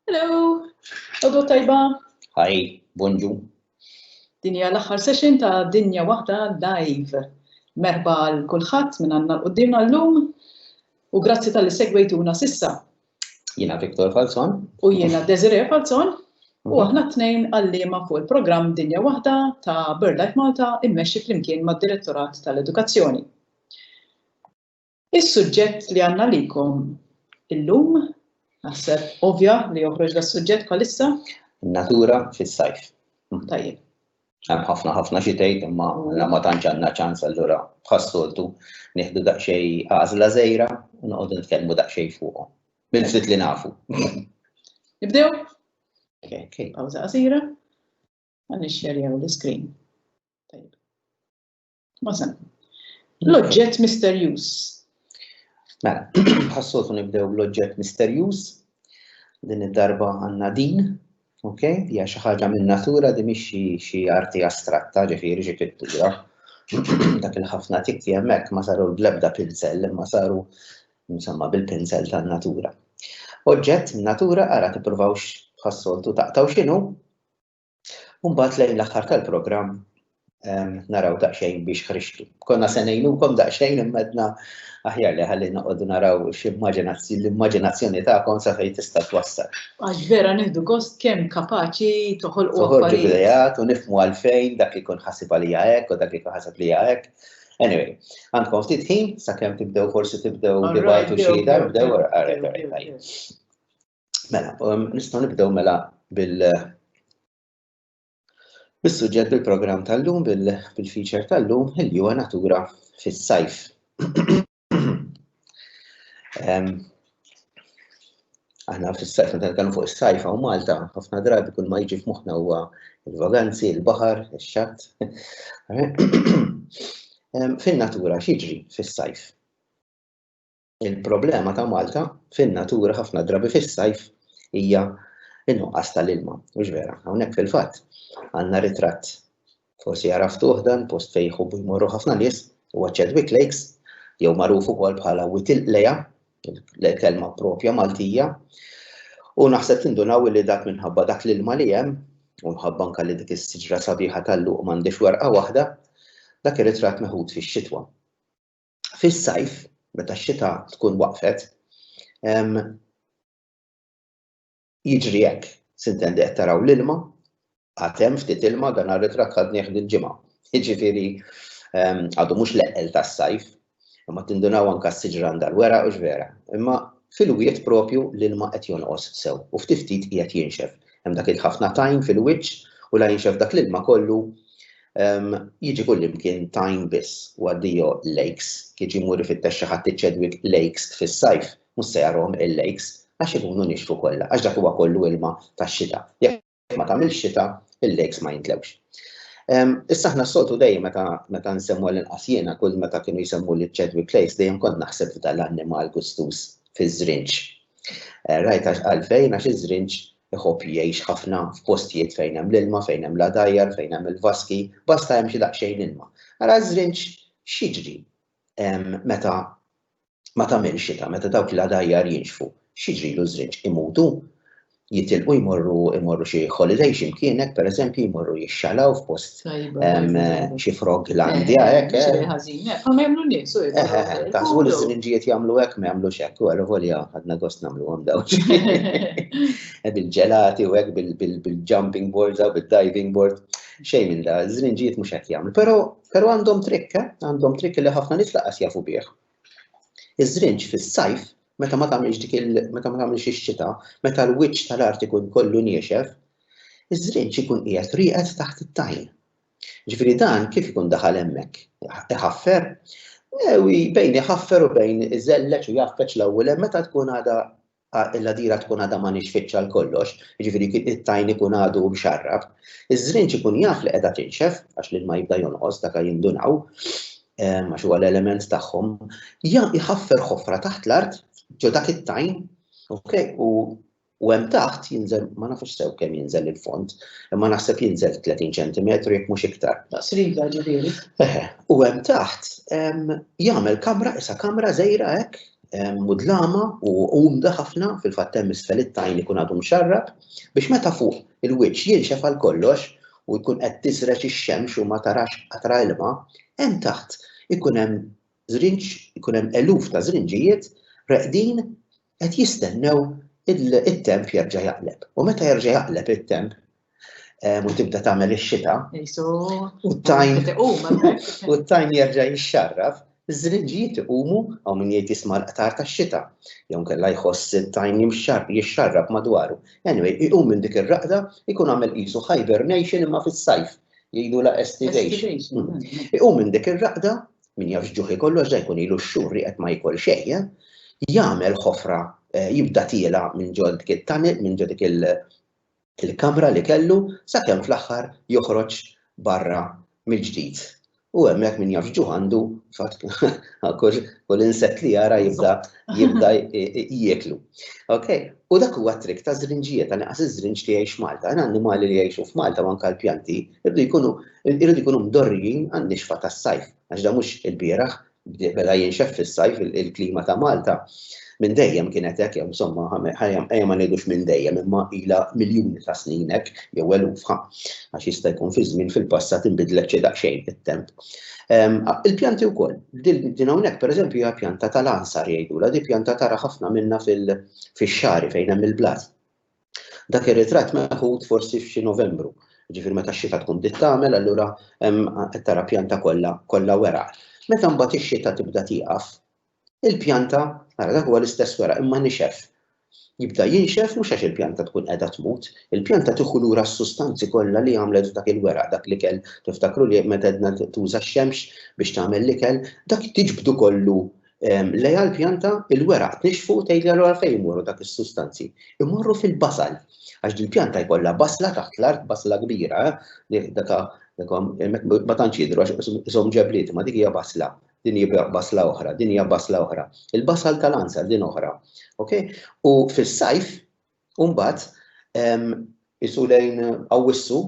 Hello, għodu tajba. Hi, bonġu. Dinja l-axħar session ta' Dinja Waħda Live. Merba għal kulħadd minn għandna l-qoddim għallum u grazzi tal-li segwejtuna sissa. Jena Viktor Falzon. U jena Desiree Falzon. U mhm. aħna t-tnejn għallima fuq il-programm Dinja Waħda ta' BirdLife Malta immexxi flimkien mad-Direttorat tal-Edukazzjoni. Is-suġġett li għandna għalikom illum, naħseb ovvja li joħroġ das-suġġett bħalissa. Natura fis-sajf. Tajjeb. Hemm ħafna ħafna xi tgħid imma għandna ma tantx għandna ċans allura bħas-soltu nieħdu daqsxejn għażla żejra u noqogħdu nitkellmu daqsxejn fuqhom. Bil-ftit li nafu. Nibdew? Okay. Pawża qasira. Għan nixxerjaw l-iskrin. Masan. L-oġġett misterjuż. Mela, ħassotu nibdew l-oġġett misterjuż. Din id-darba għandna din, ok? Hija xi ħaġa minn natura di mhix xi arti astratta, ġifieri xi pittura. Dak il-ħafna tikti hemmhekk ma saru l-blebda pinsel, imma saru insomma bil-pinsel tan-natura. Oġġett natura ara tippruvawx ħassoltu taqtaw x'inhu Mbagħad lejn l-aħħar tal-programm naraw daqsxejn biex ħriġtu. Konna se ngħinukom daqsxejn immedna aħjar li ħalli noqogħdu naraw x'immaġinazzjoni l-immaġinazzjoni tagħkom sa fejn tista' twassal. Għax vera nieħdu gost kemm kapaċi toħolqu affarijiet. Toħorġu u nifmu għalfejn dak li jkun ħasib għalija hekk u dak li jkun ħasab lija hekk. Anyway, għandkom ftit ħin sakemm tibdew forsi tibdew dibatu xi dar bdew għarajt għarajt. Mela, um, nistgħu nibdew mela bil bis-suġġett bil-programm tal-lum bil-feature tal-lum il huwa natura fis-sajf. Um, aħna fis-sajf meta nitkellmu fuq is-sajf hawn Malta, ħafna drabi kull ma jiġi f'moħħna huwa il-vaganzi, il-baħar, ix-xatt. Um, fin-natura x'jiġri fis-sajf? Il-problema ta' Malta fin-natura ħafna drabi fis-sajf hija n-nuqqas tal-ilma, mhux vera? Hawnhekk fil-fatt għandna ritratt forsi għaraftuh dan post fejn jħobbu jmorru ħafna nies huwa Chadwick Lakes jew magħruf ukoll bħala Witil Leja, l-kelma propja Maltija. U naħseb tindunaw li dak minħabba dak l-ilma li hemm u mħabba anke li dik is-siġra sabiħa tal-luq m'għandix werqa waħda, dak ir-ritratt meħud fix-xitwa. fis-sajf, meta x-xita tkun waqfet, jiġri hekk, sintendi qed taraw l-ilma, għatem ftit ilma dan għal-ritrat ħadnieh dil-ġimgħa. Jiġifieri għadu mhux leqqel tas-sajf, imma tindunaw anke s-siġra għandha l-wera u vera. Imma fil-wiet propju l-ilma qed jonqos sew u ftit ftit qiegħed jinxef. Hemm dak ħafna tajn fil-wiċċ u la jinxef dak l-ilma kollu Jiġi kullimkien Tyne biss u addio Lakes, kif ġie jmur ifittex xi ħadd iċ-Chadwick Lakes fis-sajf, mhux se jarahom il-lakes, għax ikunu nixfu kollha, għax dak huwa kollu ilma tax-xita. Jekk ma tagħmilx xita, il-lakes ma jimtlewx. Issa aħna s-soltu dejjem meta meta nsemmu għall-inqas jiena kull meta kienu jsemmuli ċ-Chadwick Lakes dejjem kont naħseb f'dan l-annimal gustuż fiż-żrinġ. Rajt għax għalfejn għax iż-żrinġ Iħobb jgħix ħafna f'postijiet fejn hemm l-ilma, fejn hemm l-għadajjar, fejn hemm il-vaski, basta hemm xi daqsxejn ilma. Ara ż-żrinġ x'jiġri meta ma tagħmilx xita, meta dawk l-għadajjar jinxfu. X'jiġrilu ż-żrinġ? Imutu? Jitilqu jmorru jmorru xi holiday x'imkien hekk pereżempju, jmorru jixxalaw f'post xi frog l-għandja, eh, hekk. Eh. Ħażin, eh, ma jagħmlu nies, u Taħsbu li s-sirinġijiet jagħmlu hekk ma jagħmlux hekk, u għal volja ħadna gost nagħmluhom daw. Bil-ġelati u hekk bil-jumping boards u bil-diving board. Xejn minn da, s-sirinġijiet mhux hekk jagħmlu. Però għandhom trikk, għandhom trikk li ħafna nies laqas jafu bih. Iż-żrinġ fis-sajf, meta ma tagħmilx dik il meta ma tagħmilx ix-xita, meta l-wiċċ tal-art ikun kollu niexef, iż-żrinġ ikun qiegħed rieqed taħt it-tajn. Ġifieri dan kif ikun daħal hemmhekk? Iħaffer? Ewi, bejn iħaffer u bejn iżelleġ u jgħaffeġ l-ewwel hemm meta tkun għadha il-ħdira tkun għadha ma nixfitx għal kollox, jiġifieri it-tajn ikun għadu mxarrab, iż-żrinġ ikun jaf li qiegħda tinxef għax l-ilma jibda jonqos daka jindunaw għax huwa l-element tagħhom, jħaffer ħofra taħt l-art ġo dak it-tajn, okay, u u hemm taħt jinżel ma nafux sew kemm jinżel il-fond, imma naħseb jinżel 30 cm jekk mhux iktar. Sriga ġifieri. U hemm taħt jagħmel kamra isa kamra żejra hekk mudlama u umda ħafna fil-fatt hemm isfel it-tajn ikun għadu mxarrab biex meta fuq il-wiċċ jinxef għal kollox u jkun qed tiżreġ ix-xemx u ma tarax qatra ilma, hemm taħt ikun hemm żrinġ, ikun hemm eluf ta' żrinġijiet reqdin qed jistennew it-temp jerġa' jaqleb. U meta jerġa' jaqleb it-temp, u tibda tagħmel ix-xita. U t-tajn u t-tajn jerġa' jixxarraf, iż-żrinġijiet iqumu hawn min jgħid jisma' l-qtar tax-xita, jew kellha jħoss it-tajn jixxarraf madwaru. Anyway, iqum minn dik ir-raqda jkun għamel qisu hibernation imma fis-sajf, jgħidulha estivation. Iqum minn dik ir-raqda, min jafx ġuħ ikollu għax dan jkun ilu x-xhur li qed ma jikol xejn, jagħmel ħofra, jibda tiela' minn ġo dik it-tunnel, minn ġo dik il- il-kamra li kellu sakemm fl-aħħar joħroġ barra mill-ġdid. U hemmhekk min jaf x'ġuħ għandu, fatt kull insett li jara jibda jibda jieklu. Okay? U dak huwa t-trick ta' żrinġijiet, ta' naqas iż-żrinġ li jgħix Malta. Hemm annimali li jgħixu f'Malta u anke l-pjanti jridu jkunu jridu jkunu mdorrijin għan-nixfa tas-sajf, għax dan mhux ilbieraħ beda jinxef fis-sajf il-klima ta' Malta minn dejjem kienet hekk jew insomma ħajja ma ngħidux minn dejjem imma ilha miljuni ta' snin hekk jew eluf għax jista' jkun fi żmien fil-passat inbidlet xi daqsxejn it-temp. Ehm, il-pjanti wkoll, din hawnhekk pereżempju hija pjanta tal-ansar jgħidulha, di pjanta tara ħafna minna fix-xari fejn hemm il-blat. Dak ir-ritratt meħud forsi f'xi Novembru, ġifieri meta x-xita tkun bdiet tagħmel allura hemm qed tara pjanta kollha kollha weraq. Meta mbagħad ix-xita tibda tieqaf, il-pjanta, ara dak huwa l-istess weraq imma nixef. Jibda jinxef mhux għax il-pjanta tkun qiegħda tmut, il-pjanta tieħu lura s-sustanzi kollha li għamlet f'dak il-weraq, dak l-ikel tiftakru li meta għedna tuża x-xemx biex tagħmel l-ikel, dak tiġbdu kollu Lejha l-pjanta, il-weraq tnixxfu u tgħidli allura fejn imorru dak is-sustanzi. Imorru fil-basal, għax din pjanta jkollha basla taħt l-art, basla kbira, eh, daka ma tantx jidhru għax isom ġebliet, ma dik hija basla, din hija basla oħra, din hija basla oħra. Il-basal tal-ansa din oħra. Ok? U fis-sajf U mbagħad isu lejn Awwissu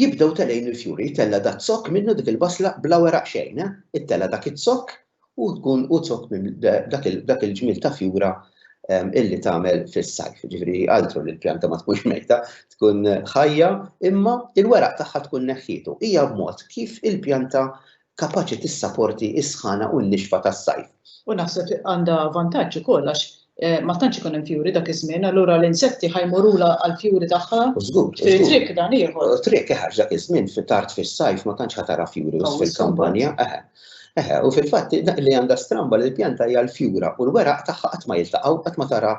jibdew telejn il-fjuri, tella da zokk minnu dik il-basla bla weraq xejn, eh? it-tella dak it-zokk u tkun u zokk minn dak il-ġmil ta' fjura illi tagħmel fis-sajf, ġifri altru li l-pjanta ma tkunx mejta, tkun ħajja, imma il-weraq tagħha tkun neħħietu. Hija b'mod kif il-pjanta kapaċi tissaporti s-sħana u n-nixfa tas-sajf. U naħseb għandha vantaġġ ukoll għax ma tantx ikun hemm fjuri dak iż-żmien, allura l-insetti ħa jmorulha għall-fjuri tagħha. Żgur. Trid triq dan ieħor. Triq eħe dak iż-żmien fi tard fis-sajf ma tantx ħa tara fjuri biss fil-kampanja. Eħe. Eħe, u fil-fatt li għandha stramba li l-pjanta hija l-fjura u l-weraq tagħha qatt ma jiltaqgħu qatt ma tara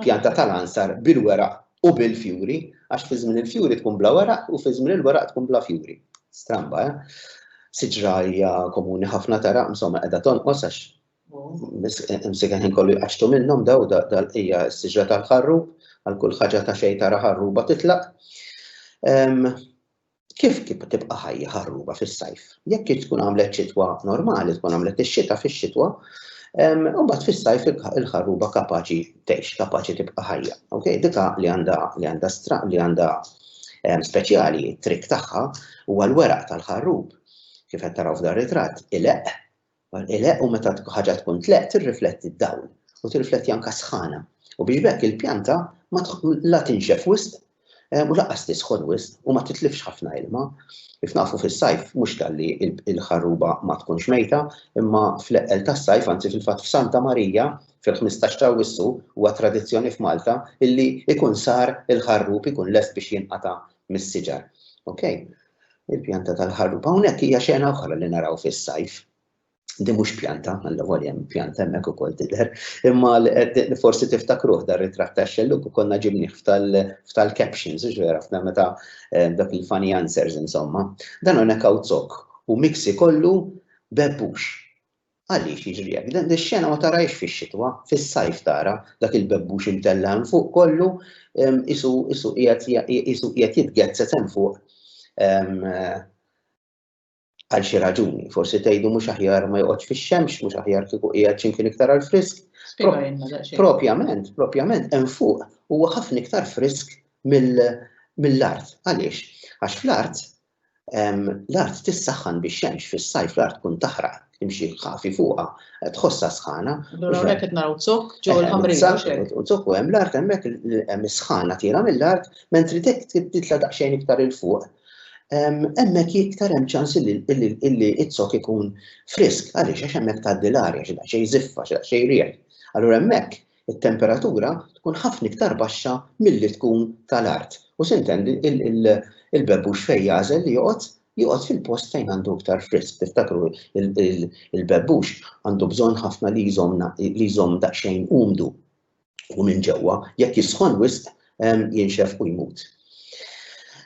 pjanta tal-ansar bil-weraq U bil-fjuri, għax fi żmien il-fjuri tkun bla weraq u fi żmien il-weraq tkun bla fjuri. Stramba, eh? Siġra hija komuni ħafna tara, insomma, qiegħda tonqos għax imsika ħin kollu jqaxtu minnhom daw dal-qija s-siġra tal-ħarrub, għal kull ħaġa ta' xejn tara ħarruba titlaq. Kif kieku tibqa' ħajja ħarruba fis-sajf. Jekk tkun għamlet xitwa normali, tkun għamlet ix-xita fix-xitwa, u mbagħad fis-sajf il-ħarruba kapaċi tgħix, kapaċi tibqa' ħajja. Okay? Dik għaqli għandha li għandha stra li għandha speċjali, it-trick tagħha huwa l-weraq tal-ħarrub kif qed taraw f'dar ritratt, ileqq Bħal għeleq u meta ħaġa tkun tleqq tirrifletti d-dawl u tirrifletti anke s-sħana u biex b'hekk il-pjanta ma la tinxef wisq u lanqas tisħon wisq u ma titlifx ħafna ilma. Kif nafu fis-sajf mhux talli l-ħarruba ma tkunx mejta imma fl-eqqel tas-sajf anzi fil-fatt f'Santa Marija fil-ħmistax ta' Awwissu huwa tradizzjoni f'Malta illi jkun sar il-ħarrub ikun lest biex jinqata' mis-siġar. Okay? Il-pjanta tal-ħarrub hawnhekk hija xena oħra li naraw fis-sajf. Di mhux pjanta, għalla volja hemm pjanta hemmhekk ukoll tidher, imma forsi tiftakruh dar ritratt ta' xelluk u konna ġibnih f'tal-captions, vera, f'na meta eh, dak il-funny answers insomma. Dan hawnhekk hawn zok u miksi kollu bebbux. Għaliex jiġri hekk? Din ix-xena ma tarahiex fix-xitwa, fis-sajf tara dak il-bebbux imtella' hemm fuq kollu qisu qiegħed jitgezzez hemm fuq għal xi raġuni. Forsi tgħidu mhux aħjar ma joqgħodx fix-xemx, mhux aħjar kieku qiegħed x'imkien iktar għall-frisk. Spjegalna daqsxejn. Propjament, propjament hemm fuq huwa ħafna iktar frisk mill-art. Għaliex? Għax fl-art L-art tissaħħan bix-xemx, fis-sajf l-art tkun taħraq, imxi ħafi fuqha, tħossha sħana. Allura hawnhekk qed naraw zokk ġew il-ħamrija u xejn. U zokk u hemm l-art hemmhekk hemm is-sħana tira mill-art mentri titla' daqsxejn iktar il fuq. Hemmhekk iktar hemm ċans illi z-zokk ikun frisk għaliex għax hemmhekk tgħaddi l-arja xi daqsxejn żiffa, xi daqsxejn riħ. Allura hemmhekk It-temperatura tkun ħafna iktar baxxa milli tkun ta' l-art u s'intendi il-bebbux fejn jagħżel li joqgħod, joqgħod fil-post fejn għandu iktar frisk. Tiftakru il-bebbux għandu bżonn ħafna li jżomm daqsxejn umdu u minn ġewwa. Jekk jisħon wisq jinxef u jmut.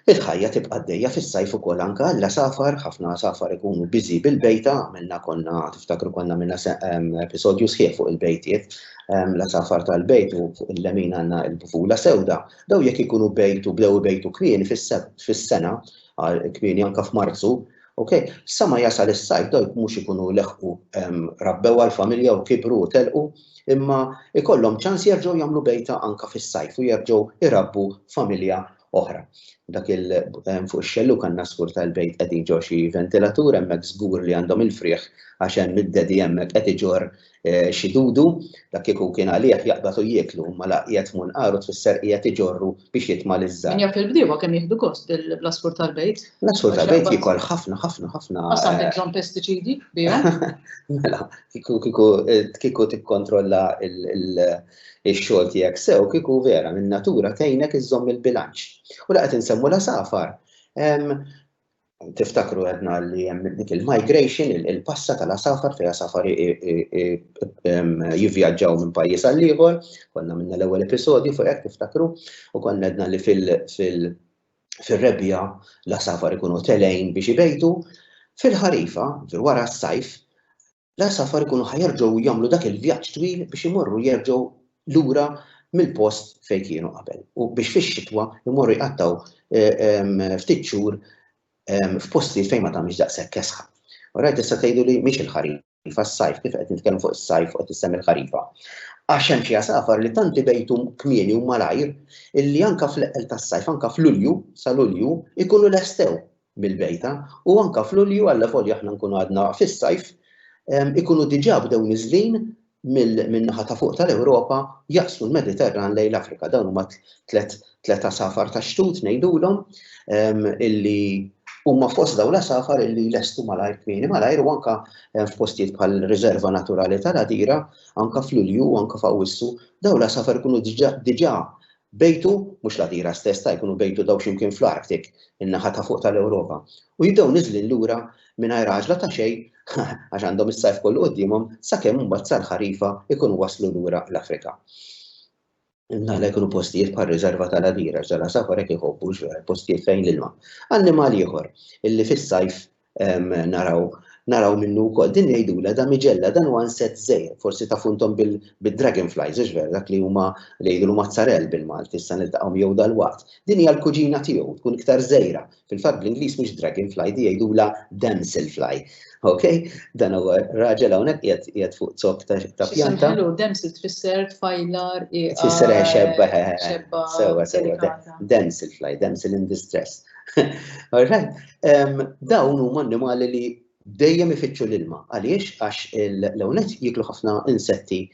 Il-ħajja tibqa' għaddejja fis-sajf ukoll anke għal safar, ħafna safar ikunu biżi bil-bejta, għamilna konna tiftakru konna minna episodju sħiħ fuq il-bejtiet, la safar tal-bejt u fuq il-lemin għandna l-bufula sewda, daw jekk ikunu bejtu bdew bejtu kmieni fis-sena, kmieni anke f'Marzu, ok, sa ma jasal is-sajf daw mhux ikunu leħqu rabbew għall-familja u kibru u telqu, imma jkollhom ċans jerġgħu jagħmlu bejta anke fis-sajf u jerġgħu jrabbu familja oħra. Dak il ehm, fuq ix-xelluk għandna skur tal-bejt qegħdin ġo xi ventilatur hemmhekk żgur li għandhom il-frieħ għax hemm id-dedi hemmhekk qed iġor eh, xi dudu dak kieku kien għalih jaqbad u jieklu ma laqjed munqaru tfisser qiegħed iġorru biex jitma' li żżar. Min jaf il-bdiewa kemm jieħdu gost bl-għasfur tal-bejt. L-għasfur tal-bejt jikol ħafna, ħafna, ħafna. Għax għandek bżonn pestiċidi bihom. Mela, kieku tikkontrolla il-xogħol tiegħek sew, kieku vera minn natura tgħinek iżżomm il-bilanċ. U laqgħet insemmu la safar. tiftakru għedna li jem dik il-migration, il-passa tal-asafar fej asafar jivjaġġaw minn pajis għal-liħor, konna minna l-ewel episodju fuq jek tiftakru, u konna għedna li fil-rebja l-asafar ikunu telejn biex ibejtu, fil-ħarifa, wara s-sajf, L-għasafar ikunu ħa jerġgħu jagħmlu dak il-vjaġġ twil biex imorru jerġgħu lura mill-post fejn kienu qabel u biex fix-xitwa jmorru jqattgħu ftit xhur f'postijiet fejn ma tagħmilx daqshekk kesħa. Orajt tista' tgħidu li mhix il-ħarifa ħarifa s-sajf, kif qed nitkellmu fuq is-sajf u qed issemmi l-ħarifa. Għax hemm xi għasafar li tant ibejtu kmieni u malajr illi anka fl-eqqel tas-sajf, anka f'Lulju, sa Lulju, ikunu lestew mill-bejta u anke f'Lulju allavolja aħna nkunu għadna fis-sajf ikunu diġà bdew niżlin min-naħa ta' fuq tal-Ewropa jaqsmu l-Mediterran lejn l-Afrika. Dawn huma tliet tliet għasafar tax-xtut ngħidulhom illi huma fost dawn l-għasafar illi lestu malajr kmieni malajr u anke f'postijiet bħal riserva naturali tal-Għadira anke f'Lulju anke f'Awwissu dawn l-għasafar ikunu diġà Bejtu, mhux l-għadira stess sta' jkunu bejtu daw xi mkien fl-Arctic, in-naħa ta' fuq tal-Ewropa, u jibdew niżlin lura mingħajr għaġla ta' xejn għax għandhom is-sajf kollu quddiemhom sakemm imbagħad sal-ħarifa jkunu waslu lura l-Afrika. Imnalla jkunu postijiet bħal riżerva tal-għadira x'dal-għasafar hekk iħobbu, postijiet fejn l-ilma. Annimal ieħor illi fis-sajf naraw naraw minnu wkoll. Din jgħidula damigella dan huwa insett żgħir, forsi ta' funtom bil-dragonflies, hux vera dak li huma li jgħidulu mazzarell bil-Malti, issa niltaqgħu jew dal-waqt. Din hija l-kuġina tiegħu, tkun iktar żgħira. Fil-fatt bl-Ingliż mhux dragonfly, di jgħidula damselfly. Ok? Dan huwa raġel hawnhekk qiegħed qiegħed fuq zokk ta' pjanta. Ħelu damsel tfisser tfajlar Tfisser xebba, xebba. Sewa, sewa. Damselfly, damsel in distress. All right? Dawn huma annimali li dejjem ifittxu l-ilma. Għaliex? Għax l-ewnet jiklu ħafna insetti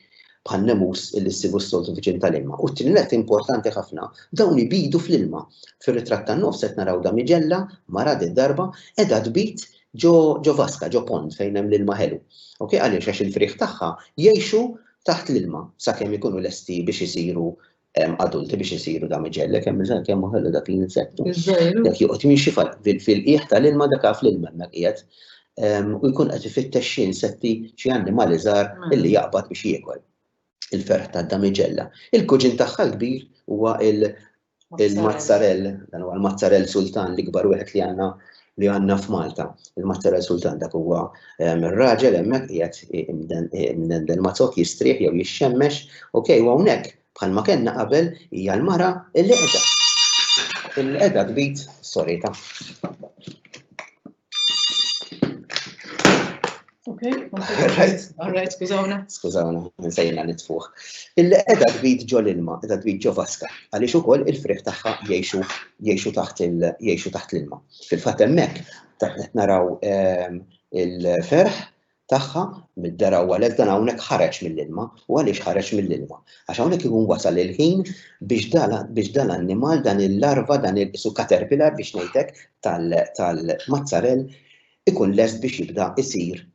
bħal nemus li ssibu s-soltu viċin tal-ilma. U t-tinilet importanti ħafna, dawn ibidu fl-ilma. Fir-ritratt tan-nofs qed naraw damigella, mara di darba, edha tbid ġo vaska, ġo pond fejn hemm l-ilma ħelu. Ok, għaliex għax il-frieħ tagħha jgħixu taħt l-ilma sakemm ikunu lesti biex isiru adulti biex isiru dam iġellek, hemm bżonn kemm ħellu dak l-insettu. Dak joqgħod jimxi fil-qiegħ tal-ilma dak għaf l-ilma hemmhekk qiegħed. U jkun qed ifittex xi insetti, xi annimali żgħar mela. illi jaqbad biex jiekol. Il-ferħ tad-damiġella. Il-kuġin tagħha l-kbir huwa il-mazzarell, dan huwa l-mazzarell sultan l-ikbar wieħed li għandna li għandna f'Malta. Il-mazza riżultant dak huwa raġel hemmhekk qiegħed imdendel mazzok jistrieħ jew jixxemmex, ok, u hawnhekk bħalma kellna qabel hija l-mara li qiegħda li qiegħda tbid sorita. Ok, alright, skużawna. Skużawna, nsejna nitfuħ. Illi edha tbid ġo l-ilma, edha tbid ġo vaska, għaliex ukoll il-friħ tagħha jgħixu jgħixu taħt jgħixu taħt l-ilma. Fil-fatt hemmhekk qed naraw ehm, il-ferħ tagħha mid-dera u għalhekk dan hawnhekk ħareġ mill-ilma u għaliex ħareġ mill-ilma. Għax hawnhekk ikun wasal il-ħin biex dala biex dan l-annimal dan il-larva dan il-su caterpillar biex ngħidlek tal-mazzarell ikun lest biex jibda jsir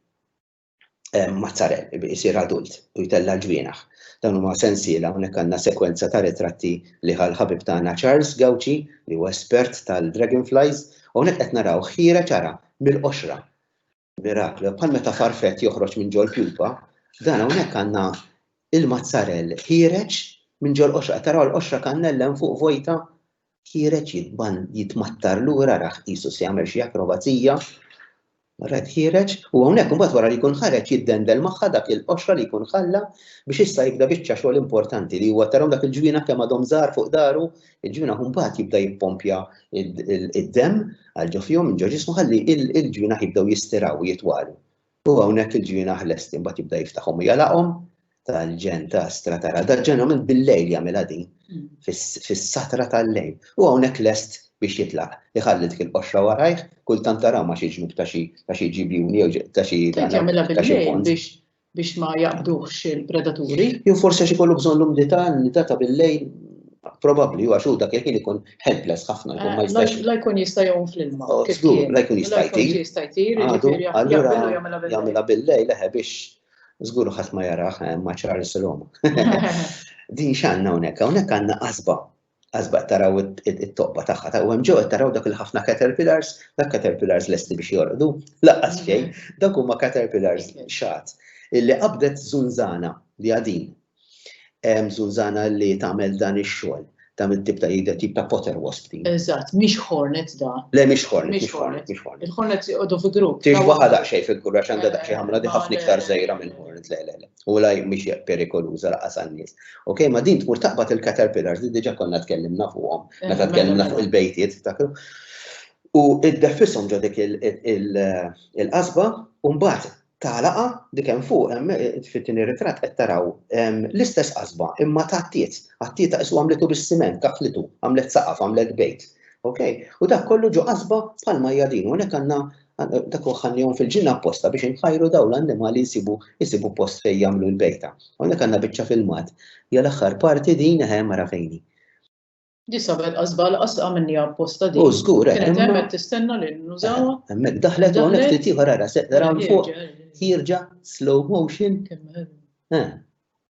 mazzarell, isir adult u jtella' l-ġwienaħ. Dan huma sensiela hawnhekk għandna sekwenza ta' ritratti li ħa l-ħabib tagħna Charles Gauci li huwa espert tal-dragonflies u hawnhekk qed naraw ħiereġ ċara mill-qoxra. Miraklu, bħal meta farfett joħroġ minn ġol pjupa, dan hawnhekk għandna il-mazzarell ħiereġ minn ġol qoxra. Taraw l-qoxra kannella hemm fuq vojta ħiereġ jitbann jitmattar lura rah qisu se jagħmel xi akrobazija. Rad ħiereġ u hawnhekk imbagħad wara li jkun ħareġ jiddendel magħha dak il-qoxra li jkun ħalla biex issa jibda biċċa xogħol importanti li huwa tarhom dak il-ġwina kemm għadhom żgħar fuq daru, il-ġwina mbagħad jibda jippompja id-demm għal ġo fihom minn ġo ġismu ħalli il-ġwina jibdew jistiraw jitwalu. U hawnhekk il-ġienaħ lesti mbagħad jibda jiftaħhom u jalaqhom tal-ġen ta' stratara. Da ġeneralment bil-lejl jagħmilha din mm. fis-satra tal-lejl. U hawnhekk lest biex jitlaq. Iħalli dik il-qoxra warajh, kultant taraw ma xi ġnub ta' xi ta' xi ġibjuni jew ta' xi jagħmilha bil-lejl biex biex ma jaqbduhx il-predaturi. Jew forsi xi kollu bżonn l-umdità, l-umdità ta' bil-lejl Probabbli għax hu dak il-ħin ikun helpless ħafna jkun ma eh, jistax. La jkun jista' jgħum fl-ilma. Oh, żgur, la jkun jista' jtir. jista' jtir, jiġifieri jagħmilha bil-lejl leħe biex żgur ħadd ma jaraħ eh, ma ċar is-silhom. Din x'għandna hawnhekk, hawnhekk għandna qasba għazba taraw it-tobba tagħha ta' u hemm ġew taraw dak il-ħafna caterpillars, dak caterpillars lesti biex jorqdu, laqqas xejn, mhm. dak huma caterpillars xat illi qabdet zunzana li għadin Hemm żunżana li tagħmel dan ix-xogħol, dan it-tip ta' jidher tip ta' potter wasp din. Eżatt, mhix hornet da. Le mhix hornet, mhix hornet, mhix hornet. Il-hornets joqogħdu fi grupp. Tiex waħda daqsxejn fil-grupp għax għandha daqsxejn ħamra di ħafna iktar żgħira minn hornet, le le le. U la mhix perikoluża laqas għan-nies. Ok, ma din tmur taqbad il-caterpillars li diġà konna tkellimna fuqhom meta tkellimna fuq il-bejtiet, tiftakru? U iddeffishom ġo dik il-qasba u mbagħad ta' laqa dik hemm fuq hemm fit-tieni ritratt qed taraw l-istess qasba imma ta' tiet, għat-tiet isu għamlitu bis-siment, kaħlitu, għamlet saqaf, għamlet bejt. Okay? U dak kollu ġo qasba bħalma hija din u hekk għandna dak ħannihom fil-ġinna apposta biex inħajru dawn l-annimali jsibu jsibu post fejn jagħmlu l-bejta. Hawnhekk għandna biċċa filmat. Hija l-aħħar parti din eħe mara fejni. Di sabet għazbal għasqa minni apposta di. U zgur, eh, Kienet hemmet tistenna li nużawa. Eh, hemmet daħlet u għonek ftit ieħor għara seqda rawn fuq. Jirġa slow motion. Eh.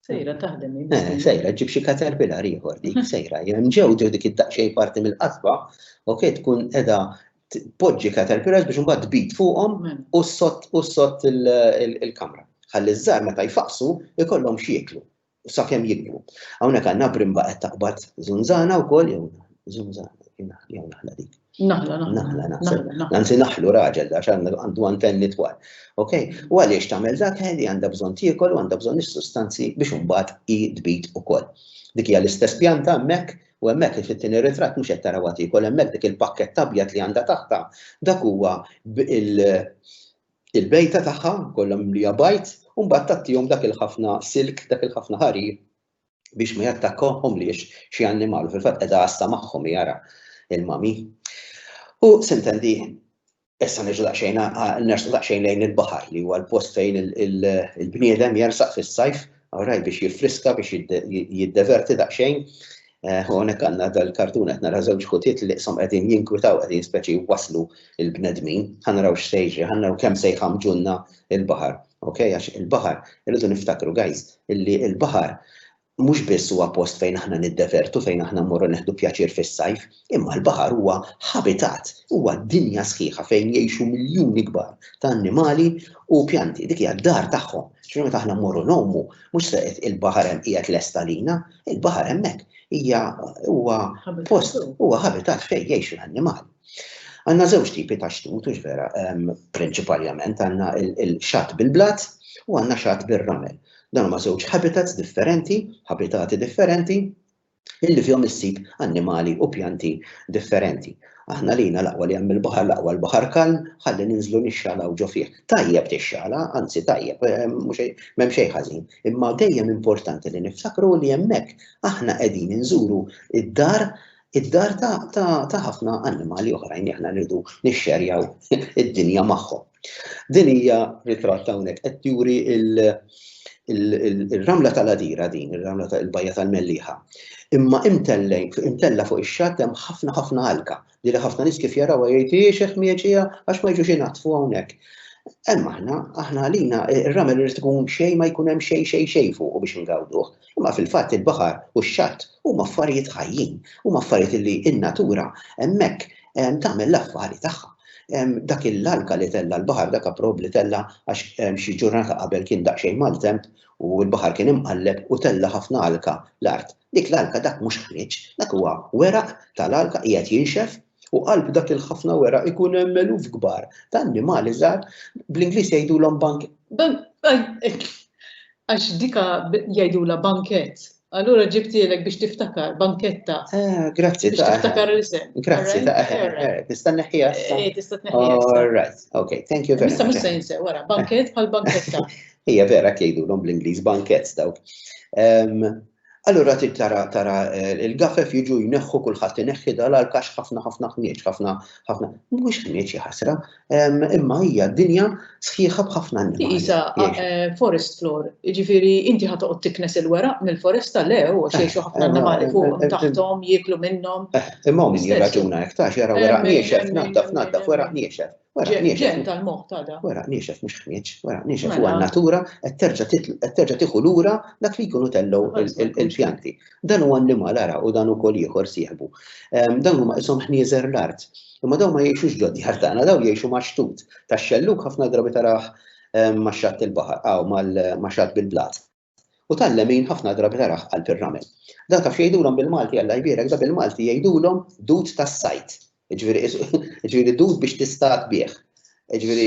Sejra taħdem. Sejra ġib xi caterpillar ieħor dik, sejra. Jem ġew dik id-daqxej parti mill-qasba, ok, tkun edha poġġi caterpillars biex mbagħad tbid fuqhom u s-sott il-kamra. Ħalli ż-żar meta jfaqsu ikollhom xieklu. u sakemm jikbru. Hawnhekk għandna brimba qed taqbad żunżana wkoll jew żunżana jew naħla dik. Naħla, naħla, naħla. Anzi naħlu raġel da għandu antenni twal. Ok? U għaliex tagħmel dak li għandha bżonn tiekol u għandha bżonn is-sustanzi biex imbagħad i tbid ukoll. Dik hija l-istess pjanta hemmhekk u hemmhekk kif it-tieni ritratt mhux qed taraw tiekol hemmhekk dik il-pakkett abjad li għandha taħta dak huwa il-bejta tagħha kollha mimlija bajd u mbagħad tagħtihom dak il-ħafna silk, dak il-ħafna ħarir biex ma jattakkahomliex xi annimal u fil-fatt qiegħda għassa magħhom hi ara il-mami. U sintendi issa niġu daqsxejn nersu daqsxejn lejn il-baħar li huwa l-post fejn il-bniedem jersaq fis-sajf Awraj biex jiffriska biex jiddeverti daqsxejn. U hawnhekk għandna dal-kartun qed nara żewġ ħutiet li qshom qegħdin jinkwitaw qegħdin speċi jwasslu l-bnedmin. Ħa naraw x'se jiġri, ħa naraw kemm se jħammġulna l-baħar. Ok, għax il-baħar, irridu niftakru guys, illi l-baħar mhux biss huwa post fejn aħna niddevertu, fejn aħna mmorru neħdu pjaċir fis-sajf, Imma l-baħar huwa ħabitat, huwa dinja sħiħa fejn jgħixu miljuni kbar ta' annimali u pjanti. Dik hija d-dar tagħhom. Ġifieri meta aħna mmorru ngħumu, mhux se il-baħar hemm qiegħed lest għalina, il-baħar hemmhekk hija huwa post, huwa ħabitat fejn jgħix l-annimal. Għandna żewġ tipi ta' xtut, hux vera, prinċipalment għandna l-xatt bil-blat u għandna xatt bir-ramel. Dan huma żewġ habitats differenti, ħabitati differenti, illi fihom issib annimali u pjanti differenti. Aħna għalina l-aqwa li hemm il-baħar, l-aqwa l-baħar kalm, ħalli ninżlu nixxalgħu ġo fih. Tajjeb tixxala, anzi tajjeb, eh, m'hemm xejn ħażin, imma dejjem importanti li niftakru li hemmhekk aħna qegħdin inżuru id-dar id-dar ta' ħafna annimali oħrajn li aħna rridu nixxerjaw id-dinja magħhom. Din hija ritratt hawnhekk qed juri il-ramla tal-għadira din, ir-ramla tal-bajja tal-Melliħa. Imma imtellejn, imtella fuq ix-xatt hemm ħafna ħafna għalka li li ħafna nies kif jarawha jgħid hiex qed mieġija għax ma jiġux inaħtfu hawnhekk. Hemm aħna, aħna għalina ir-ramel irid ikun xejn ma jkun hemm xejn xejn xejn fuq biex ingawduh. Imma fil-fatt il-baħar u x-xatt huma affarijiet ħajjin, huma affarijiet li n-natura hemmhekk tagħmel l-affari tagħha. Dak il-alka li tella' l-baħar dak approb li tella' għax xi ġurnata qabel kien daqsxejn maltemp u l-baħar kien imqalleb u tella' ħafna alka l-art. Dik l-alka dak mhux ħmieġ, dak huwa weraq tal-alka qiegħed jinxef U qalb dak il-ħafna wera ikun hemm eluf kbar ta' annimali żgħar, bl-Ingliż jgħidulhom bank. Għax dika jgħidulha bankett, allura ġibtielek biex tiftakar, banketta. Eh, grazzi ta' Biex tiftakar l-isem. Grazzi ta' Tista' neħħiha issa? Eh, tista' tneħħiha. All right, okay, thank you very much. Issa mhux se jinsew wara, bankett bħal banketta. Hija vera jgħidulhom bl-Ingliż bankett dawk. Allura trid tara tara eh, il-gafef jiġu jneħħu kulħadd ineħħi dal għax ħafna ħafna ħnieġ, ħafna ħafna. Mhuwiex ħnieġ ħasra, imma hija dinja sħiħa b'ħafna annimali. Isa, eh, forest floor, jiġifieri inti ħad toqgħod tiknes il-weraq mill-foresta le u eh, xejn ħafna annimali fuq taħtom jieklu minnhom. Imma min jirraġuna hekk tax jara weraq niexef, naddaf naddaf weraq niexef. Ġen tal-moħħ ta' da. Wara niexef mhux ħnieġ, wara niexef mela. huwa natura qed terġa' tieħu lura dak li jkunu tellgħu il-pjanti. Dan huwa annimal ara u dan ukoll ieħor sieħbu. Ehm, dawn huma qishom ħnieżer l-art. Imma dawn ma jgħixux ġod djar tagħna, dawn jgħixu ma' xtut tax-xelluk ħafna drabi tarah ehm, ma' xatt il-baħar, aw ma' xatt bil-blat. U tal-lemin ħafna drabi tarah qalb ir-ramel. Dan taf x'jgħidulhom bil-Malti Alla jbierek, dan bil-Malti jgħidulhom dud tas-sajd. Jiġifieri jiġifieri dud biex tistad bih. Jiġifieri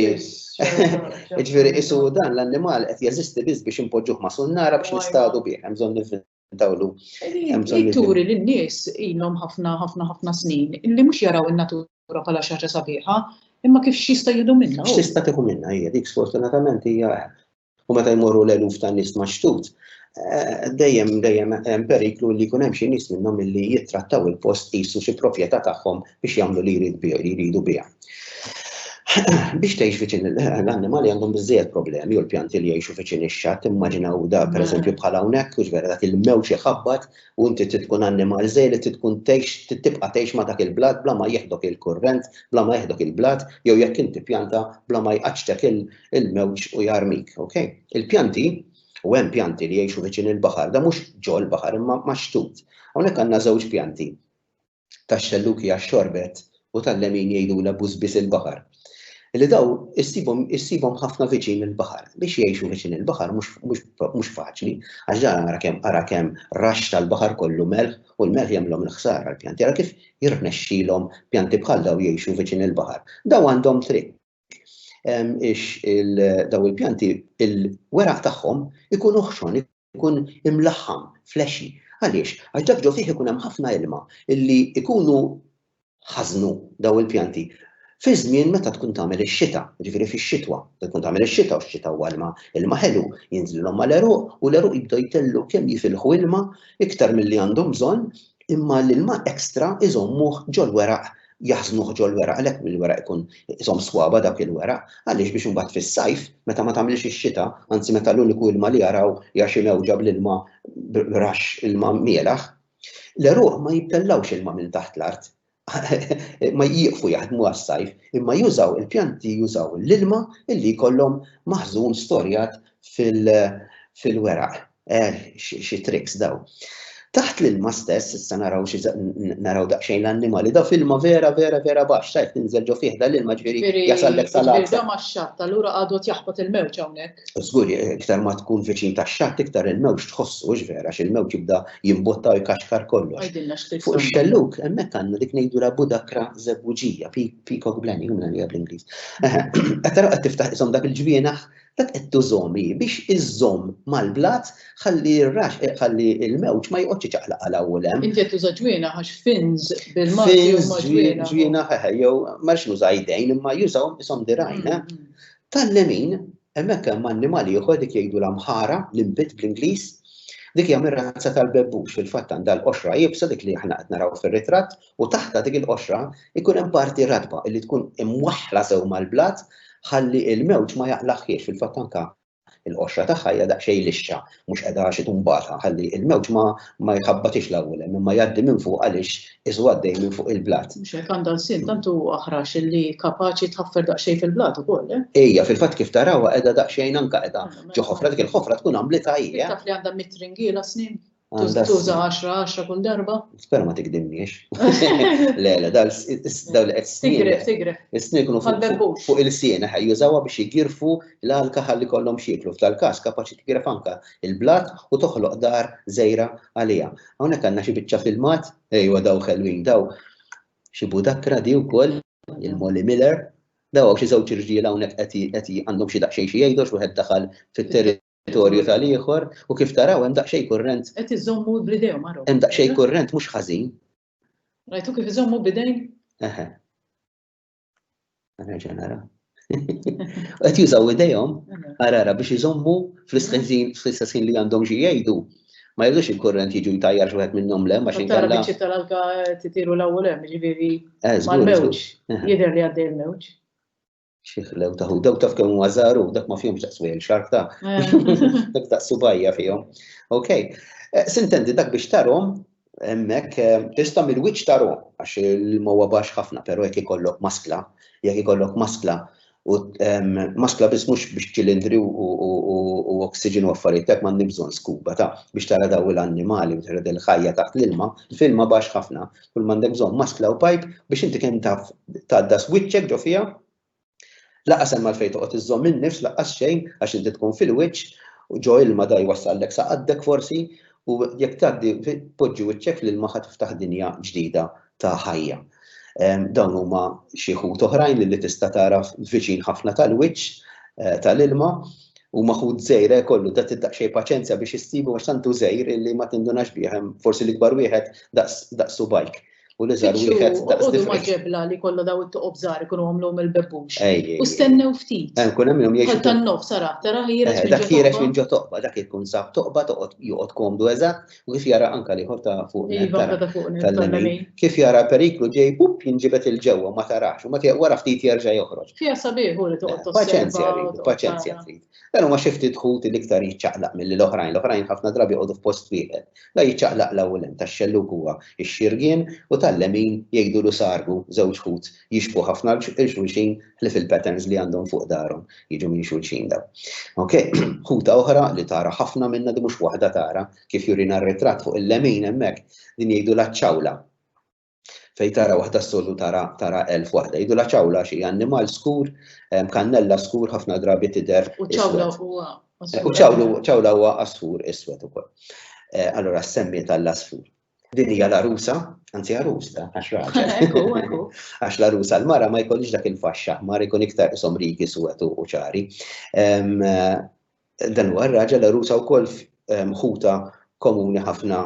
jiġifieri isu dan l-annimal qed jeżisti biss biex inpoġġuh ma' sunnara biex nistadu bih, hemm bżonn nivvintawlu. Li turi lin-nies ilhom ħafna ħafna ħafna snin li mhux jaraw in-natura bħala xi ħaġa sabiħa, imma kif x'jista' jieħdu minnha. X'tista' tieħu minnha hija dik sfortunatament hija U meta jmorru l-eluf ta' nies ma' xtut, eh, dejjem dejjem hemm periklu li jkun hemm xi nies minnhom illi jittrattaw il-post qisu xi proprjetà tagħhom biex jagħmlu li jrid li jridu biha. Biex tgħix viċin l-annimali għandhom biżżejjed problemi u l-pjanti li jgħixu viċin ix-xatt immaġinaw da pereżempju mm. bħal hawnhekk u ġvera dak il-mewġ iħabbat u inti tkun annimal żej li tkun tgħix tibqa' tgħix ma' dak il-blat bla ma jeħdok il-kurrent, bla ma jeħdok il-blat jew jekk inti pjanta bla ma jqaċċtek il-mewġ u jarmik, ok? Il-pjanti, u hemm pjanti li jgħixu viċin il-baħar, da mhux ġol baħar imma maxtut. Hawnhekk għandna żewġ pjanti tax-xelluki għax-xorbet u tal-lemin jgħidu la bużbis il-baħar. Li daw issibhom ħafna viċin il-baħar. Biex jgħixu viċin il-baħar mhux faċli, għax ġara ara kemm ara kemm rax tal-baħar kollu melħ u l-melħ jagħmlhom il-ħsara l-pjanti. Ara kif jirnexxilhom pjanti bħal daw jgħixu viċin il-baħar. Daw għandhom triq daw il-pjanti, il-weraq tagħhom ikun uħxon, ikun imlaħħam, flexi. Għaliex? Għax dak ġo fih ikun hemm ħafna ilma illi ikunu ħażnu daw il-pjanti fi żmien meta tkun tagħmel ix-xita, jiġifieri fix-xitwa. Meta tkun tagħmel ix-xita u x-xita huwa ilma, ilma ħelu, jinżlilhom mal-għeruq u l-għeruq jibdew jtellgħu kemm jifilħu ilma iktar milli għandhom bżonn, imma l-ilma extra iżommuh ġol-weraq jaħżnuh ġol-weraq għalhekk il-weraq ikun isom swaba dak il-weraq għaliex biex imbagħad fis-sajf meta ma tagħmilx ix-xita anzi meta l-uniku ilma li jaraw hija xi mewġa bl-ilma b'raxx ilma mielaħ l-għeruq ma jibtellgħux ilma minn taħt l-art ma jieqfu jaħdmu għas-sajf imma jużaw il-pjanti jużaw l-ilma li jkollhom maħżun storjat fil-weraq. Eh, xi tricks daw. Taħt l-ilma stess, issa naraw naraw daqsxejn l-annimali, daw filma vera vera vera baxx, tajt tinżel ġo fih dal-ilma ġifieri jasallek salat. Iżda ma' xatt, allura għadu jaħbot il-mewġ hawnhekk. Żgur, iktar ma tkun viċin tax-xatt, iktar il-mewġ tħossu hux vera, xi l-mewġ jibda jimbotta u jkaxkar kollox. Fuq ix-xelluk, hemmhekk għandna dik ngħidulha budakra żebbuġija, peacock blenny, jumna li bl-Ingliż. Qed tara qed tiftaħ isom dak il-ġwienaħ Dak qed tużhom hi biex iżżomm mal-blat ħalli r-rax, ħalli l-mewġ ma joqgħodx iċaqlaq għal hawn u 'l hemm. Inti qed tuża ġwienaħ għax fins bil-Malti huma ġwienaħ. Fins, ġwienaħ, eħe, jew ma rridx nuża idejn imma jużawhom qishom dirgħajn, eh. Tal-lemin, hemmhekk hemm annimal ieħor dik jgħidulha mħara, limpet bl-Ingliż. Dik hija mir-razza tal-bebbux, fil-fatt għandha l-qoxra iebsa dik li aħna qed naraw fir-ritratt u taħtha dik il-qoxra jkun hemm parti ratba li tkun imwaħħla sew mal-blat ħalli l-mewġ ma jaqlagħhiex, fil-fatt anke il-qoxra tagħha hija daqsxejn lixxa, mhux qiegħda xi tumbata ħalli l-mewġ ma jħabbatiex l-ewwel hemm imma jgħaddi minn fuq għaliex qisu għaddej minn fuq il-blat. Mhux hekk għandha lsien tant hu aħrax li kapaċi tħaffer daqsxejn fil-blat ukoll, eh? Hija fil-fatt kif tarawha qiegħda daqsxejn anke qiegħda ġo ħofra, dik il-ħofra tkun għamlitha hi, eh? Taf li għandha mitt ringiela snien? Tuża 10-10 kull darba? Spera ma tikdimniex. Le, le, dal li qed Tigref, tigref. Is-snin kunu fuq il-siena ħaj jużawha biex jgirfu l-alka ħalli kollhom xieklu. F'tal-każ kapaċi tigref anka il-blat u toħloq dar żejra għaliha. Hawnhekk għandna xi biċċa filmat, ejwa daw ħelwin daw. Xi budakra di wkoll, il-Molly Miller, daw xi żewġ irġiel hawnhekk qed għandhom xi daqsxejn xi jgħidu x'wieħed daħal fit-territorju territorju tal-ieħor u kif taraw hemm daqsxejn kurrent. Qed iżommu bl-idejhom għarhom. Hemm daqsxejn kurrent mhux ħażin. Rajtu kif iżommu bidejn? Eħe. Għana ġenara. Qed jużaw idejhom għarara biex iżommu fl-istess li għandhom xi jgħidu. Ma jridux il-kurrent jiġu jtajjar xi wieħed minnhom lem għax inkella. Tara biċċi tal-alka titiru l-ewwel hemm, jiġifieri eh, mal-mewġ. Jidher li għaddej il-mewġ. Xiħlew ta' hu, daw taf kemm huwa żaru, dak ma fihomx daqs wejl xarf ta' dak ta' subajja fihom. Ok. Eh, sintendi dak biex tarhom hemmhekk eh, tista' mill-wiċċ tarhom għax il-mowa baxx ħafna, però jekk ikollok maskla, jekk ikollok maskla u ehm, maskla biss mhux biex ċilindri u oksiġen u affarijiet dak m'għandi bżonn skuba ta' biex tara daw l-annimali u tara il-ħajja taħt l-ilma, filma baxx ħafna, Kull m'għandek bżonn maskla u pajp biex inti kemm taf tgħaddas wiċċek ġo fiha. Laqqas hemm għalfejn toqgħod iżżomm in-nifs laqqas xejn għax inti tkun fil-wiċċ u ġo ilma da jwassallek sa qaddek forsi u jekk tgħaddi poġġi wiċċek fl-ilma ħa tiftaħ dinja ġdida ta' ħajja. Ehm, dawn huma xi ħut oħrajn li tista' tara viċin ħafna tal-wiċċ eh, tal-ilma u maħud żejr eh, kollu ta' daqsxejn paċenzja biex issibu għax tantu żejr illi ma tindunax bih forsi l-ikbar wieħed daqs bajk. U li żar wieħed daqs Għodu ma ġebla li kollu daw it-toqob żgħar ikunu għamlu mill-bebbux. U stennew ftit. Eh, kun hemm jom jgħixu. Tan-nof sara tara ħireġ. Eh, dak ħireġ minn ġo toqba, dak ikun sab toqba toqgħod joqgħod komdu eżatt U kif jara anka liħor ta' fuq tal-lemin, kif jara periklu ġej pup jinġibet il-ġewwa ma tarax, u ma tiegħek wara ftit jerġa' joħroġ. Fija sabiħ u li toqgħod tosserva. Paċenzja rridu, paċenzja trid. Dan huma xi ftit ħut li iktar jiċċaqlaq milli l-oħrajn, l-oħrajn ħafna drabi jqogħdu f'post wieħed. Da jiċċaqlaq l-hawn u l-hemm, tax-xellug huwa x-xirgien u tal-lemin jgħidulu sargu, żewġ ħut jixbhu ħafna 'l xulxin, li fil-patterns li għandhom fuq darhom jiġu minn xulxin daw. Ok, ħuta oħra li tara ħafna minna di mhux waħda tara kif jurina r-ritratt fuq il-lemin hemmhekk din jgħidu laċċawla. Fej tara waħda s-soltu tara tara elf waħda. Jgħidu laċċawla xi annimal skur, kannella skur ħafna drabi tidher. U ċawla huwa. U ċawla huwa asfur iswed ukoll. Eh, allora semmi tal-asfur. Din hija l-arusa, anzi arus da, għax raġel. Għax l-arusa l-mara ma jkollix dak il-faxxa, mara jkun iktar isom rigi suwet u ċari. Dan huwa r-raġel l-arusa wkoll ħuta komuni ħafna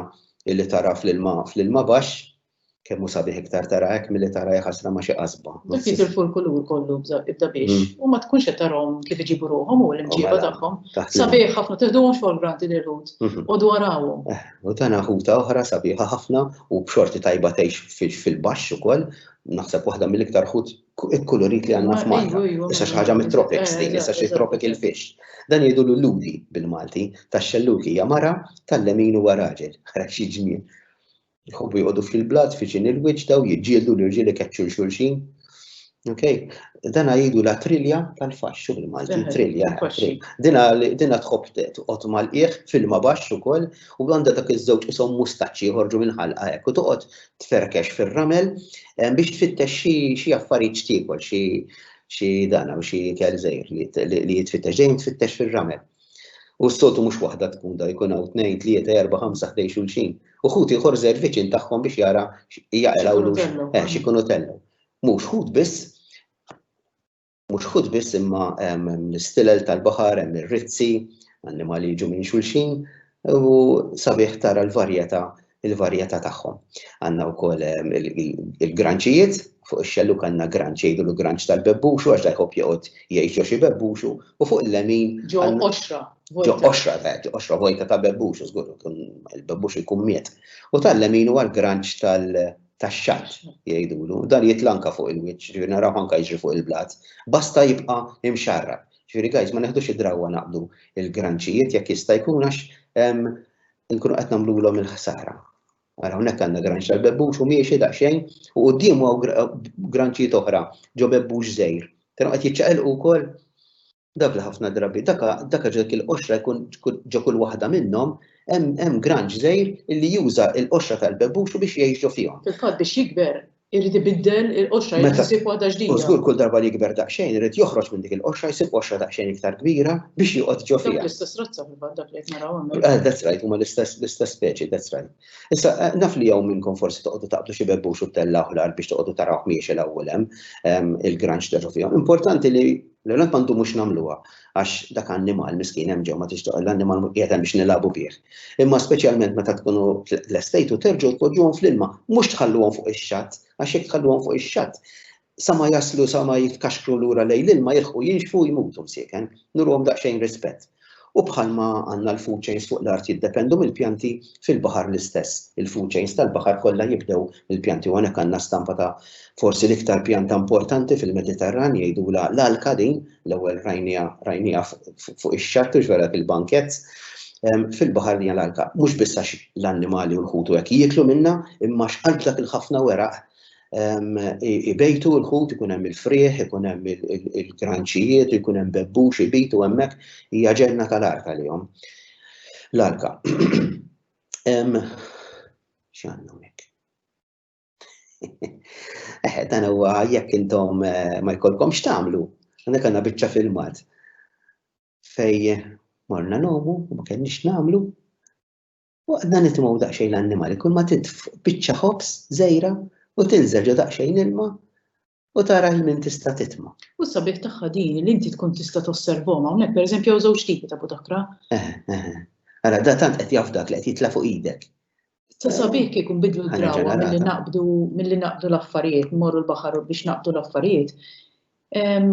li tara fl-ilma fl-ilma baxx, kemm hu sabiħ iktar tara hekk milli tara ħasra ma' xi qasba. Dak jitilfu l-kulur kollu ibda biex u ma tkunx qed tarahom kif iġibu ruħhom u l-imġiba tagħhom. Sabiħ ħafna, teħduhomx fuq il-granti lil ħut, qogħdu arawhom. U tana ħuta oħra sabiħa ħafna u b'xorti tajba tgħix fil-baxx ukoll, naħseb waħda mill-iktar ħut ikkulurit li għandna f'Malta. Issa xi ħaġa mit-tropics din, issa xi tropical fish. Dan jgħidu l-ludi bil-Malti, tax-xelluki hija mara, tal-lemin huwa raġel, ara xi ġmiel. Jħobbu joqogħdu fil-blat, fiċin il-wiċċ daw jiġġieldu l-irġiel ikeċċu l xulxin. Okay. Dana jidu la trilja tal-faxxu bil-Malti, trilja. Dina dina tħobb toqgħod mal-qiegħ fil-ma baxx ukoll u għandha dak iż-żewġ isom mustaċċi joħorġu minn ħalqa hekk u toqgħod tferkex fir-ramel eh, biex tfittex xi affarijiet x'tiekol xi xi dana u xi ikel żejr li jitfittex dejjem tfittex fir-ramel. U s-sotu mhux waħda tkun da jkun hawn tnejn, tlieta, erba', ħamsa ħdej xulxin. U ħuti ieħor żejr viċin tagħhom biex jara jaqilgħu eh, xi kunu tellu. Mhux ħut biss, mhux ħut biss imma l-istilel tal-baħar, hemm ir-rizzi, annimali jiġu minn xulxin, u sabiħ tara l-varjetà il-varjetà tagħhom. Għandna wkoll il-granċijiet, fuq ix-xelluk għandna granċ jgħidu l granċ tal-bebbuxu għax da jħobb joqgħod jgħix ġo xi bebbuxu u fuq il-lemin. Ġo qoxra. Ġo qoxra, ġo qoxra vojta ta' bebbuxu, żgur il-bebbuxu jkun miet. U tal-lemin huwa l-granċ tal-bebbuxu tax-xagħar, jgħidulu, dan jitla' anke fuq il-wiċċ, jiġifieri narawh anke jiġri fuq il-blat, basta jibqa' imxarrab. Jiġifieri guys ma neħdux id-drawwa naqbdu l-granċijiet jekk jista' jkun għax nkunu qed nagħmlulhom il-ħsara. Ara hawnhekk għandna granċ tal-bebbux u miexi daqsxejn u quddiemu hawn granċijiet oħra ġo bebbux żgħir. Taraw qed jiċċaqilqu wkoll? Dak li ħafna drabi dak dak ġo dik il-qoxra jkun ġo kull waħda minnhom hemm hemm granġ żgħir li juża l-qoxra tal-bebbuxu biex jgħix ġo fihom. Fil-fatt biex jikber irid ibiddel il-qoxra, irid isib waħda ġdida. U żgur kull darba li jikber daqsxejn irid joħroġ minn dik il-qoxra jsib qoxra daqsxejn iktar kbira biex joqgħod ġo fiha. Dawk l-istess razza fil-fatt dak li qed naraw hawnhekk. Eh, that's right, huma l-istess l-istess speċi, that's right. Issa eh, naf li hawn minnkom forsi toqgħodu taqbdu xi bebbux u tella oħlar biex toqgħodu tarawh miexi l-ewwel hemm ehm, il-granġ ta' ġo fihom. Importanti li L-ewwel nett ma ndumux nagħmluha għax dak annimal miskin hemm ġewwa ma tixtieq l-annimal qiegħed hemm biex nilagħbu bih. Imma speċjalment meta tkunu lestejtu terġgħu tpoġġuhom fl-ilma, mhux tħalluhom fuq ix-xatt għax jekk tħalluhom fuq ix-xatt sa ma jaslu sa ma jitkaxkru lura lejn l-ilma jilħqu jinxfu u jmutu msieken. Nuruhom daqsxejn rispett. U bħalma għandna l-food chains fuq l-art jiddependu mill-pjanti, fil-baħar l-istess. Il-food chains tal-baħar kollha jibdew mill-pjanti u hawnhekk għandna stampa ta' forsi l-iktar pjanta importanti fil-Mediterran jgħidulha l-alka din, l-ewwel rajniha rajniha fuq ix-xatt u ġwera fil-bankett. Ehm, fil-baħar hija l-alka, mhux biss għax l-annimali u l-ħutu hekk jieklu minnha, imma x'qalb dak il-ħafna weraq ibejtu l-ħut, ikun hemm il-frieħ, ikun hemm il-kranċijiet, ikun hemm bebbux, ibitu hemmhekk hija ġenna tal-arka lihom. L-arka. X'għandna hemmhekk? Eh, dan huwa jekk intom eh, ma jkollkomx tagħmlu, għandek għandna biċċa filmat fej morna nomu, ma kenniex nagħmlu, U għadna nitimgħu daqsxejn l-annimali, kull ma titf biċċa ħobż żejra u tinżel ġo daqsxejn ilma u tara l-min tista' titma. U s-sabiħ tagħha din li inti tkun tista' tosservhom hawnhekk pereżempju hawn żewġ tipi ta' budakra. Eh, eh, eh. Ara, da tant qed jaf dak li qed jitla' fuq idek. Ta' sabiħ kieku nbidlu Ħana d-drawa milli ġenerata. naqbdu milli naqbdu l-affarijiet, morru l-baħar biex naqbdu l-affarijiet. Em,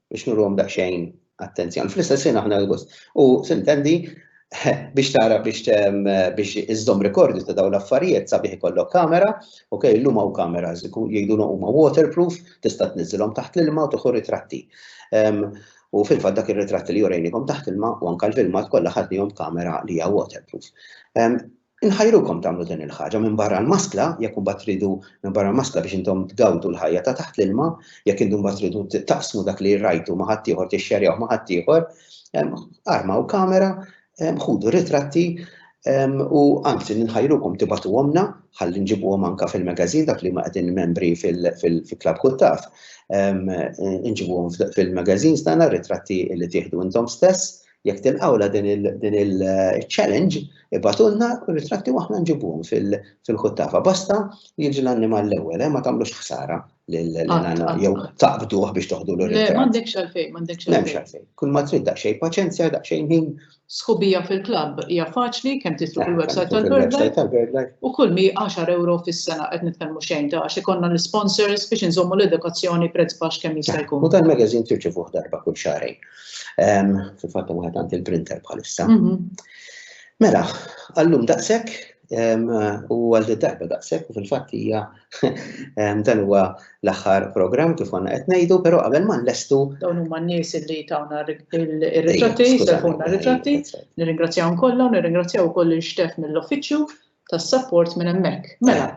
biex nurhom daqsxejn attenzjoni. Fl-istess ħin aħna l-gost. U sintendi biex tara biex biex iżżomm rekordju ta' dawn l-affarijiet sabiħ ikollok kamera, ok, l-lum hawn kamera jgħidulhom huma waterproof, tista' tniżilhom taħt l-ilma u tieħu ritratti. U fil-fatt dak ir-ritratti li jurejnikom taħt ilma u anke l-filmat kollha ħadnihom kamera li hija waterproof. Inħajrukom tagħmlu din il-ħaġa minbarra l-maskla, jekk imbagħad tridu minbarra l-maskla biex intom tgawdu l-ħajja ta' taħt l-ilma, jekk intom imbagħad tridu taqsmu dak li rajtu ma' ħaddieħor, tixxerjawh ma' ħaddieħor, armaw kamera, ħudu ritratti u anzi ninħajrukom tibatuhomna ħalli nġibuhom anke fil-magazin dak li ma qegħdin membri fil-Klabb Kuttaf. Inġibuhom fil-magazin stana ritratti li tieħdu intom stess Jekk tilqawla din il-challenge, ibatulna ritratti u aħna nġibuhom fil-ħuttafa. Basta li jiġi l-annimal l-ewwel, eh, ma tagħmlux ħsara l-annimal jew taqbduh biex toħdu l ritratt M'għandekx għalfejn, m'għandekx għalfejn. Kull ma trid daqsxejn paċenzja, daqsxejn ħin. Sħubija fil-klabb hija faċli kemm titlu eh, fil-website tal-BirdLife u kull mi 10 euro fis-sena qed nitkellmu xejn ta' għax ikollna l-sponsors biex inżommu l-edukazzjoni prezz baxx kemm jista' eh, jkun. U tal-magazine tirċivuh darba kull xahrejn. Fil-fatt hemm wieħed għand il-printer bħalissa. Mhm. Mela, għallum daqshekk u għal darba daqshekk u fil-fatt hija dan huwa l-aħħar programm kif għandna qed ngħidu, però qabel ma nlestu. Dawn huma n-nies li tawna r-ritratti, sefuna r-ritratti, nirringrazzjahom kollha u nirringrazzjaw ukoll il-xtef mill-uffiċċju tas-sapport minn hemmhekk. Mela,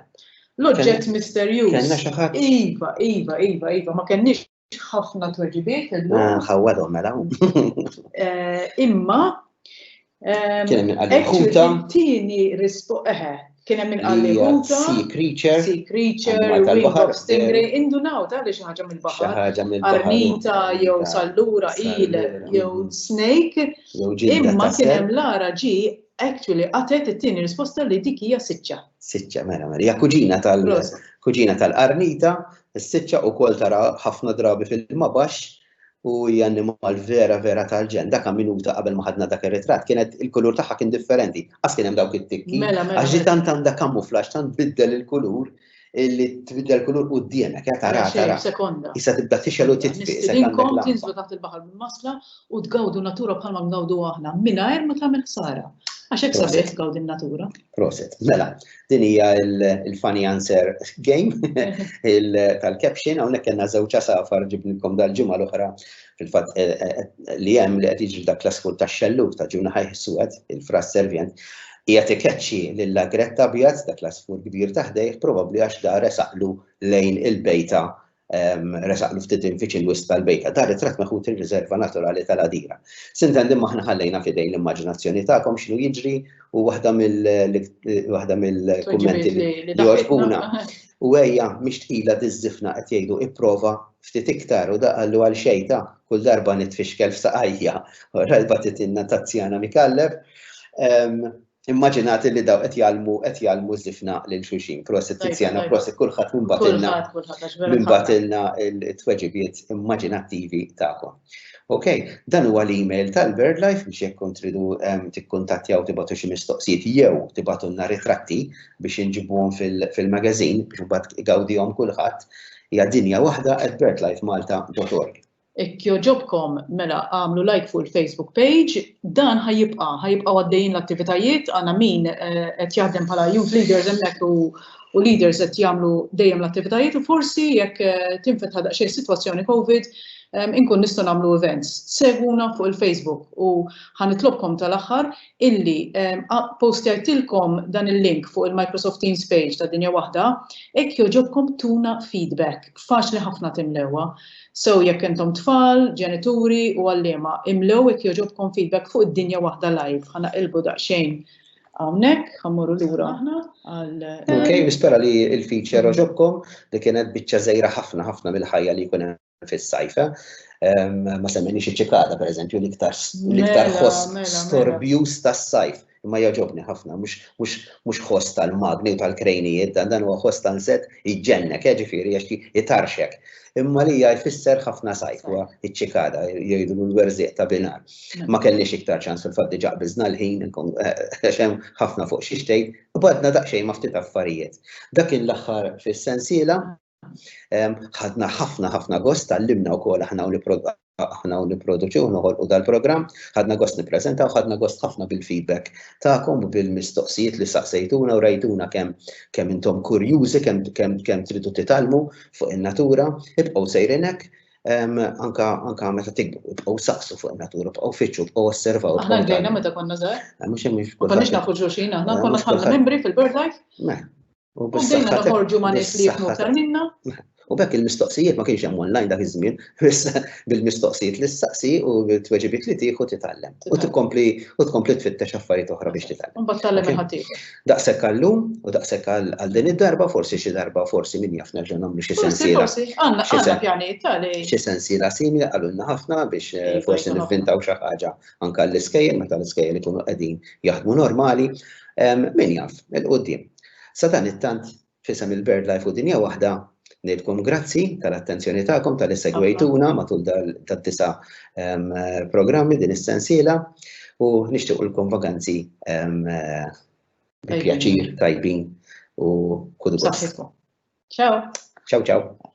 L-oġġett misterjuż. Kenna xi ħadd? Iva, iva, iva, iva, ma kenniex ħafna tweġibiet illum. Eh, ħawwadhom mela. Eh, imma eh, kien hemm għal-ħuta. Tieni rispo eħe. Kien hemm għal-ħuta. Sea creature. Sea creature, wing of stingray, indunaw ta' li xi ħaġa mill-baħar. Ħaġa mill-baħar. Arnita jew sallura il jew mm. snake. Imma kien hemm lara ġi actually għatet it-tieni risposta li dik hija siċċa. Siċċa, mela, mela. Hija kuġina tal-kuġina tal-qarnita Is-siċċa ukoll tara ħafna drabi f'ilma baxx u hija annimal vera vera tal-ġenn. Dak ha minuta qabel ma ħadna dak ir-ritratt kienet il-kulur tagħha kien differenti. Qas kien hemm dawk it-tikki. Għax ġi tant għandha kamuflaġġ, tant tbiddel il-kulur li tbiddel kulur quddiemek, ha taraha taraha. Issa tibda tixgħel u titfi. Nistidinkom tinżlu taħt il-baħar bil-masla u tgawdu n-natura bħalma ngawduha aħna mingħajr ma tagħmel ħsara. Għax hekk sabiħ tgawdi n-natura. Proset. Mela, Din hija il-funny answer game tal-caption, hawnhekk kellna żewġ asafar ġibnilkom dal-ġimgħa l-oħra fil-fatt eh, eh, eh, li hemm li qed jiġri dak klassiku tax-xellug ta' ġuna ħajħ suwed, il-fras servient, hija tikeċċi lil agretta abjad dak l-asfur kbir taħdejh probabbli għax dar saqlu lejn il-bejta resaqlu ftit infiċ il-wisq tal-bejta. Dar it-tratt meħud ir-riserva naturali tal-Għadira. Sintendi ma aħna ħallejna f'idejn l-immaġinazzjoni tagħkom x'inhu jiġri u waħda mill-kummenti li jogħġbuna. U ejja, mhix tqila tiżżifna qed jgħidu ipprova ftit iktar u da qallu għal xejn ta' kull darba nitfixkel f'saqajja. Rajba titilna tazzjana mikallef. Immaġinat li daw qed jgħallmu qed jgħallmu żifna lil xulxin. Prosit Tiziana, prosit kulħadd minn batilna. Minn batilna t-tweġibiet immaġinattivi tagħkom. Ok, dan huwa l-email tal-Bird Life biex jekk kont tridu ehm, tikkuntattjaw tibatu xi mistoqsijiet jew tibatunna ritratti biex inġibuhom fil-magazin biex mbagħad igawdihom kulħadd hija dinja waħda at birdlifemalta.org. Jekk jogħġobkom mela agħmlu like fuq il-Facebook page. Dan ħa jibqa', ħa jibqgħu għaddejjin l-attivitajiet, għandna min eh, qed jaħdem bħala youth leaders hemmhekk u u leaders qed jagħmlu dejjem l-attivitajiet u forsi jekk eh, tinfetħa daqsxejn sitwazzjoni COVID eh, inkun nistgħu nagħmlu events. Seguna fuq il-Facebook u ħanitlobkom tal-aħħar illi postajtilkom dan il-link fuq il-Microsoft Teams page ta' dinja waħda, hekk joġobkom tuna feedback. Faċli ħafna timlewha. So jekk intom tfal, ġenituri u għalliema imlew jekk jogħġobkom feedback fuq id-dinja waħda live. Ħa naqilbu daqsxejn hawnhekk, ħa mmorru lura aħna għal. Ok, nispera li l-feature għoġobkom li kienet biċċa żgħira ħafna ħafna mill-ħajja li jkun hemm fis-sajf. Eh? Ehm, ma semmejniex iċ-ċikada pereżempju l-iktar l-iktar mela, ħoss mela, mela. storbjuż tas-sajf. Imma jogħġobni ħafna, mhux mhux mhux ħoss tal-magni u tal-krejnijiet dan dan huwa ħoss tanset iġġennek, eh, ġifieri għax ti- itarxek. Imma lija jfisser ħafna sajd, huwa iċ-ċikada, jgħidulu l-werżieq ta' binar. Ma kellniex iktar ċans fil-fatt diġà qbiżna l-ħin, nkun- eh, għax hemm ħafna fuq xi xtejt, u bgħadna daqsxejn ma' ftit affarijiet. Dak kien l-aħħar fis-sensiela. Ħadna ħafna ħafna gost tallimna wkoll aħna u aħna u nipproduċu noħolqu dal-programm, ħadna gost nippreżentaw, ħadna gost ħafna bil-feedback tagħkom u bil-mistoqsijiet li saqsejtuna u rajtuna kemm kemm intom kurjużi, kemm kemm kemm tridu titgħallmu fuq in-natura, ibqgħu sejrinek anka anka meta tikbu, ibqgħu saqsu fuq in-natura, bqgħu fiċċu, bqgħu osservaw. Aħna ġejna meta konna żgħar. Mhux hemm Konniex nafu ġuxin, aħna konna bħala membri fil-BirdLife. U dejna noħorġu ma' nies li jifmu aktar minna. U bekk il-mistoqsijiet ma kienx hemm online dak iż-żmien, bil-mistoqsijiet li ssaqsi u t-tweġibiet li tieħu titgħallem. U tkompli u tkompli tfittex affarijiet oħra biex titgħallem. Imbagħad tgħallem il-ħadd ieħor. Daqshekk għallum u daqshekk għal din id-darba, forsi xi darba forsi min jaf nerġa' nagħmlu xi sensiela. Forsi forsi, għandna għandna pjanijiet tali. Xi sensiela simili qalulna ħafna biex forsi nivvintaw xi ħaġa anke l-iskejjel meta l-iskejjel ikunu qegħdin jaħdmu normali. Min jaf, il-qudiem. Sadanittant, f'isem il-BirdLife u Dinja Waħda, ngħidkom grazzi tal-attenzjoni tagħkom talli segwejtuna matul tad-disa' programmi din is-sensiela u nixtiequlkom vaganzi bi pjaċir, tajbin u kull gost. Ciao. Ciao ciao.